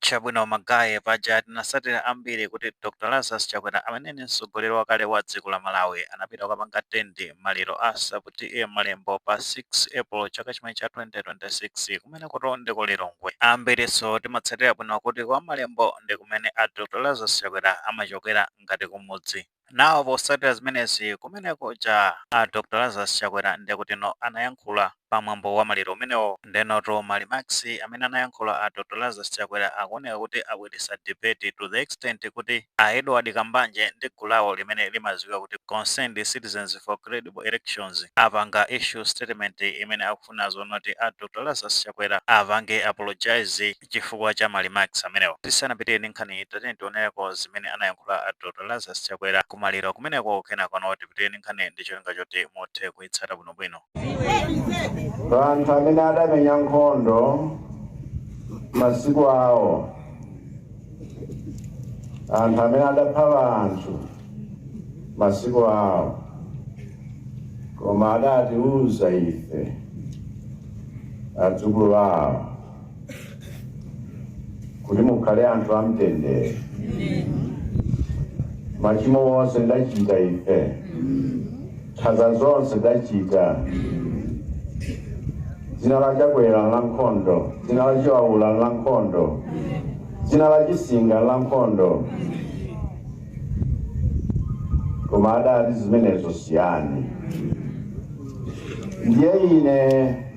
Chabwino ma guy paja tinatsatira ambiri kuti Dr Lazarus Chakwera amene ni mtsogoleri wakale wa dziko la Malawi anapita kukapanga attend maliro a sub TA Malembo pa 6 April chaka chimenechi cha 2026 kumenekoto ndi ku Lilongwe. Ambirinso timatsatira bwino kuti kwa Malembo ndi kumene a Dr Lazarus Chakwera amachokera ngati kumudzi. Now potsatira zimenezi kumene kuja a Dr Lazarus Chakwera ndiye kuti no anayankhula pa mwambo wa maliro umenewo. Ndiyenotu ma remarks amene anayankhula a Dr Lazarus Chakwera akuoneka kuti abweretsa debate to the extent kuti a Edward Kambanje ndi gulu lawo limene limadziwika kuti Concerned Citizens for Credible Elections apanga issue statement imene akufuna zonoti a Dr Lazarus Chakwera apange apologise chifukwa cha ma remarks amenewo. Tisanapite ndi nkhaniyi tatiyeni tioneleko zimene anayankhula a Dr Lazarus Chakwera ku maliro kumeneko kenako no tipite ndi nkhaniyi ndi cholinga choti muthe kuitsata bwinobwino. Anthu amene adamenya nkhondo masiku awo, anthu amene adapha anthu. masiku awo, koma adatiuza ife adzukulu awo kuti mukhale anthu amtendere. Machimo onse tachita ife, nkhanza zonse tachita, dzina la Chakwera la nkhondo, dzina la Chiwaula la nkhondo, dzina la Chisinga la nkhondo. koma adati zimenezo siyani ndiye ine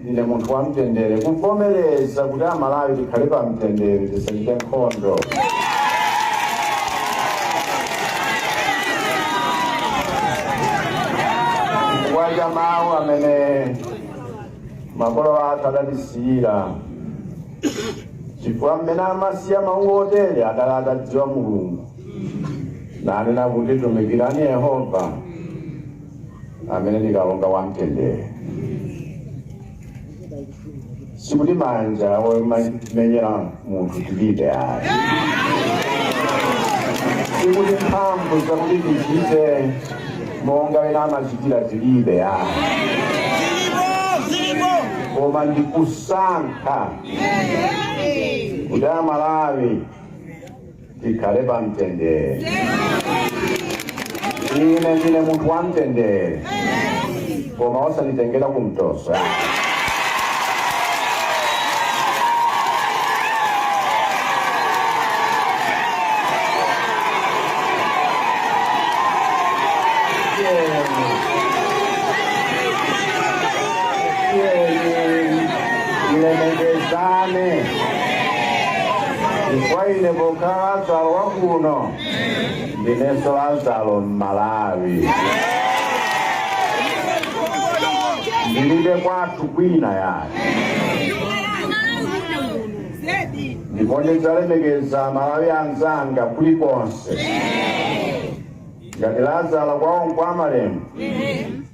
ndine munthu wa mtendere kuvomereza kuti amalawi tikhale pa mtendere tisachite nkhondo chifukwa cha mawu amene makolo athu adatisiyira chifukwa mmene amasiya mawu otere adali atadziwa mulungu nanena kuti tumikirani yehova amene ndi kalonga wa mtendere sikuti manja omenyera munthu tilibe ayi sikuti mphamvu zakuti tichite monga ena amachitira tilibe ayi koma ndikusankha kuti amalawi tikhale pa mtendere ine ndine munthu wa mtendere koma osanditengera kumtoso chifukwa ine pokhala Lazaro wa kuno ndinenso Lazaro m'Malawi. Ndilibe kwathu kwina yayi ndipo ndidzalemekeza Amalawi anzanga kulikonse. ngati lazaro kwawo nkwa malembo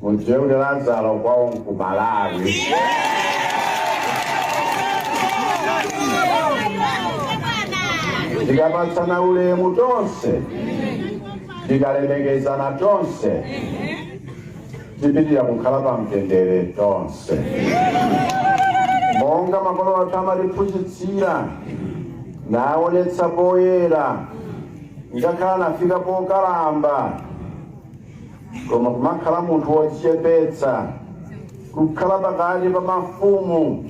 mudziwe kuti lazaro kwawo nkumalawi tikapatsana ulemu tonse tikalemekezana tonse tipitira kukhala pa mtendere tonse monga makolo athu amatiphunzitsira naonetsa poyera Ngakhale atafika pokalamba, koma kumakhala munthu wodzichepetsa, kukhala pakati pa mafumu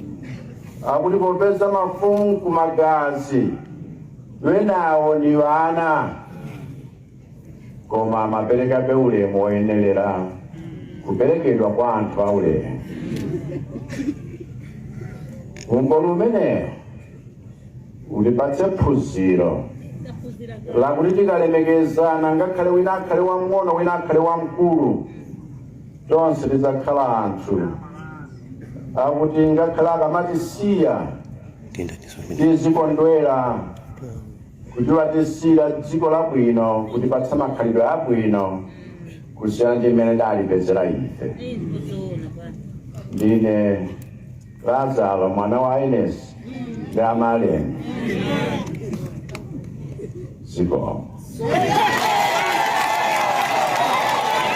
akuti popeza mafumu kumagazi wenawo ni wana koma amaperekabe ulemu woyenelera kuperekedwa kwa anthu aulemu umboni umenewo Utipatse phunziro lakuti tikalemekezana, ngakhale wina akhale wamng'ono wina akhale wamkulu, tonse tidzakhala anthu akuti ngakhale akamatisiya tizikondwera kuti watisiyira dziko labwino kutipatsa makhalidwe abwino kusiyana ndi mmene tinalipezera ife. Ndine Lazaro mwana wa Ines ndi Amalian zikomo.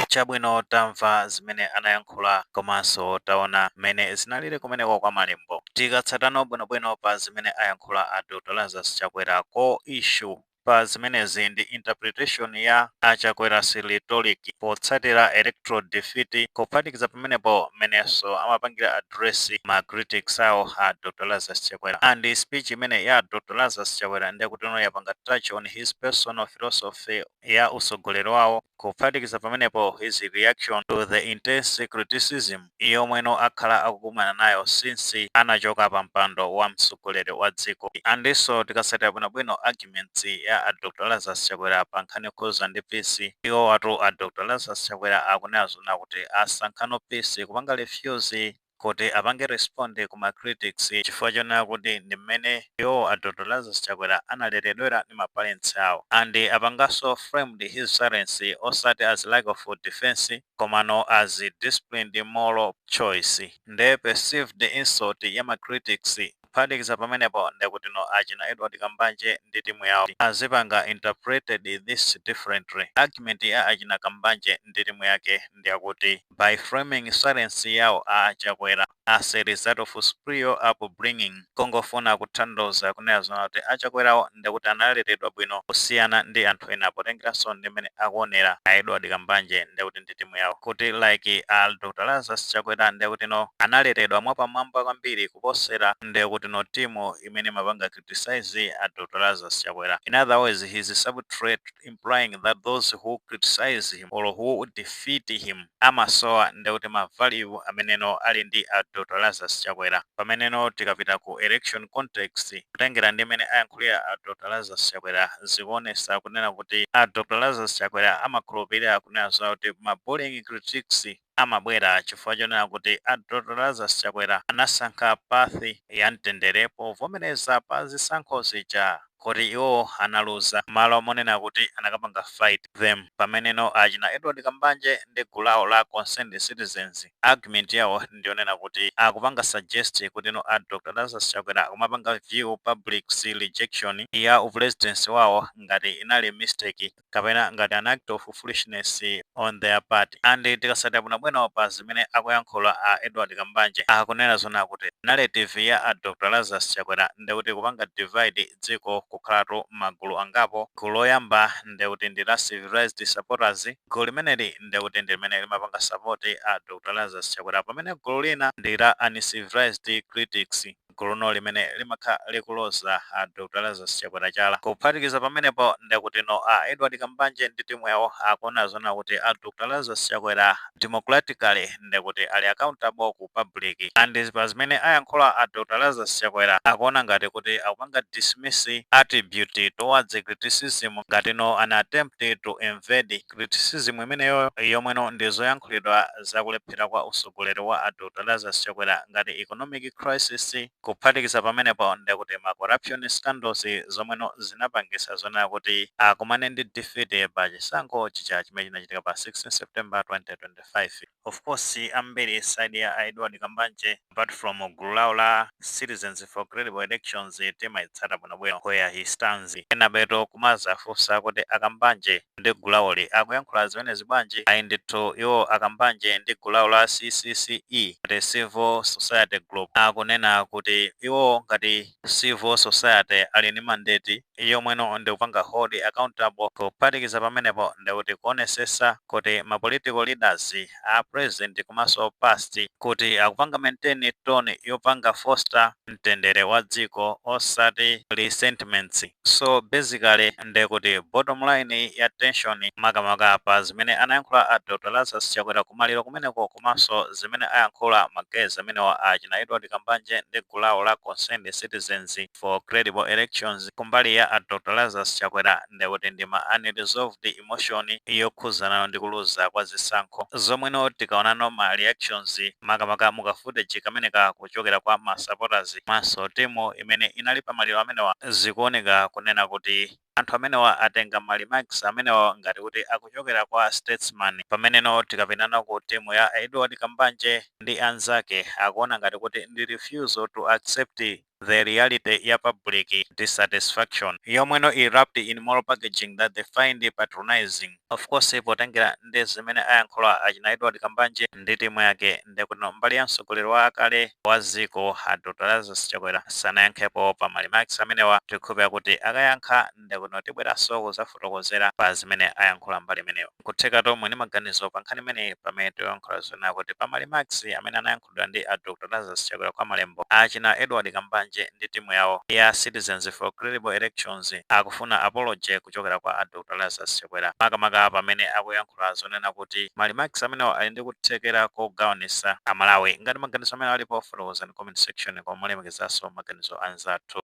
chabwino tamva zimene amayankhula komanso taona mmene zinalili kumeneko kwa malembo tikatsatano bwinobwino pa zimene ayankhula a dr lazarus chakwera ko issue pa zimenezi ndi interpretation ya a Chakwera's rhetoric potsatira electoral defeat kuphatikiza pamenepo mmenenso amapangira address ma critics awo a Dr Lazarus Chakwera and speech imene ya Dr Lazarus Chakwera ndi yakuti no yapanga touch on his personal philosophy ya utsogoleri wawo kuphatikiza pamenepo his reaction to the intense criticism yomweno akhala akukumana nayo since anachoka pa mpando wa mtsogoleri wa dziko and nso tikasatira bwino bwino arguments ya a Dr Lazarus Chakwera pa nkhani yokhuza ndi peace iwowatu a Dr Lazarus Chakwera akunena zoona kuti asankhano peace kupanga refuse kuti apange respond ku ma critics chifukwa chonena kuti ndi mmene iwowo a Dr Lazarus Chakwera analeredwera ndi ma parents awo and apanganso framed his silence osati as lack of defence komano as disciplined moral choice nde perceived insult ya ma critics kuphatikiza pamenepo ndekutino achina Edward Kambanje ndi timu yawo azipanga interpreted this differently. Argument ya achina Kambanje ndi timu yake ndiyakuti by framing silence yawo a Chakwera, As a result of superior upbringing kungofuna kuthandauza kunena zoona kuti a Chakwerawo ndekuti analeredwa bwino kusiyana ndi anthu ena potengeranso ndi mmene akuonera a Edward Kambanje ndekuti ndi timu yawo kuti like a Dr Lazarus Chakwera ndekutino analeredwa mwapamwamba kwambiri kuposera ndekutino timu imene imapanga criticize a Dr Lazarus Chakwera, in other words he is subtly implying that those who criticize him or who defeat him amasowa ndekuti ma value ameneno ali ndi a Dr Lazarus Chakwera pameneno tikapita ku election context kutengera ndi mmene ayankhulira a Dr Lazarus Chakwera zikuonesa kunena kuti a Dr Lazarus Chakwera amakhulupilira kunena zoona kuti ma bullying critics amabwera chifukwa chonena kuti a Dr Lazarus Chakwera anasankha path ya mtendere povomereza pa zisankho zija kuti iwowo analuza mmalo monena kuti anakapanga fight them pameneno achina Edward Kambanje ndi gulu lawo la Concerned Citizens argument yawo ndiyonena kuti akupanga suggest kutino a Dr Lazarus Chakwera akumapanga view public's rejection ya upulezidentsi wawo ngati inali mistake kapena ngati an act of foolishness on their part and tikasatira bwinobwino pa zimene akuyankhula a Edward Kambanje akunena zoona kuti narrative ya a Dr Lazarus Chakwera ndekuti kupanga divide dziko kukhalatu magulu angapo, gulu loyamba ndekuti ndi la civilized supporters, gulu limeneli ndekuti ndi limene limapanga support a Dr Lazarus Chakwera pamene gulu lina ndi la uncivilized critics. guluno limene limakhala likuloza a Dr Lazarus Chakwera chala. Kuphatikiza pamenepo ndekutino a Edward Kambanje ndi timu yawo akuona zoona kuti a Dr Lazarus Chakwera democratically ndekuti ali accountable ku public and pazimene ayankhula a Dr Lazarus Chakwera akuona ngati kuti akupanga dismissive attitude towards criticism ngatino an attempt to evade Criticism imeneyoyo yomweno ndi zoyankhulidwa za kulephera kwa usogoleri wa a Dr Lazarus Chakwera ngati economic crisis, kuphatikiza pamenepo ndekuti ma corruption scandals zomweno zinapangisa zonena kuti akumane ndi defeat pa chisankho chija chimene chinachitika pa 16 September 2025. of course ambiri side ya a Edward Kambanje apart from gulu lawo la Citizens for Credible Elections timayitsatano bwinobwino where he stands. Enabetu kumazafunsa kuti a Kambanje ndi gulu lawoli akuyankhula zimenezi bwanji? Ayi ndithu iwo a Kambanje ndi gulu lawo la CCCE ngati Civil Society Group akunena kuti iwo ngati Civil Society ali ndi mandate yomweno ndikupanga hold accountable kuphatikiza pamenepo ndikuti kuonesesa kuti ma political leaders a present komanso past kuti akupanga maintain tone yopanga foster mtendere wa dziko osati resentments so basically ndekuti bottom line ya tension makamaka pa zimene anayankhula a Dr Lazarus Chakwera kumaliro kumeneko komanso zimene ayankhula ma guys amenewa a achina Edward Kambanje ndi gulu lawo la Concerned Citizens for credible elections kumbali ya a Dr Lazarus Chakwera ndekuti ndi ma unresolved emotion yokhuzana ndi kuluza kwa zisankho zomweno tikaonano ma reactions makamaka mu ka footage kameneka kuchokera kwa ma supporters komanso team imene inali pa maliro amenewa zikuoneka kunena kuti anthu amenewa atenga ma remarks amenewa ngati kuti akuchokera kwa statesman pameneno tikapitano ku team ya Edward Kambanje ndi anzake akuona ngati kuti ndi refusal to accept the reality ya public dissatisfaction yomweno wrapped in moral packaging that they find patronizing. Of course potengera ndi zimene ayankhula achina Edward Kambanje ndi timu yake ndikuno mbali ya mtsogoleri wakale wa dziko a Dr. Lazarus Chakwera sanayankhepo pa ma remarks amenewa tikhulupira kuti akayankha ndikuno tibweranso kudzafotokozera pa zimene ayankhula mbali imeneyo. Nkutheka tomwe ndi maganizo pa nkhani imeneyi pamene tikuyankhula zonena kuti pa ma remarks amene anayankhulidwa ndi a Dr Lazarus Chakwera kwa Malembo, a achina Edward Kambanje ndi timu yawo ya Citizens for Credible Elections akufuna apology kuchokera kwa a Dr Lazarus Chakwera makamaka pamene akuyankhula zonena kuti ma remarks amenewa ali ndi kuthekera kogawanisa a Malawi. Ngati maganizo amenewa alipo fotokozani comment section koma molemekezaso maganizo anzathu.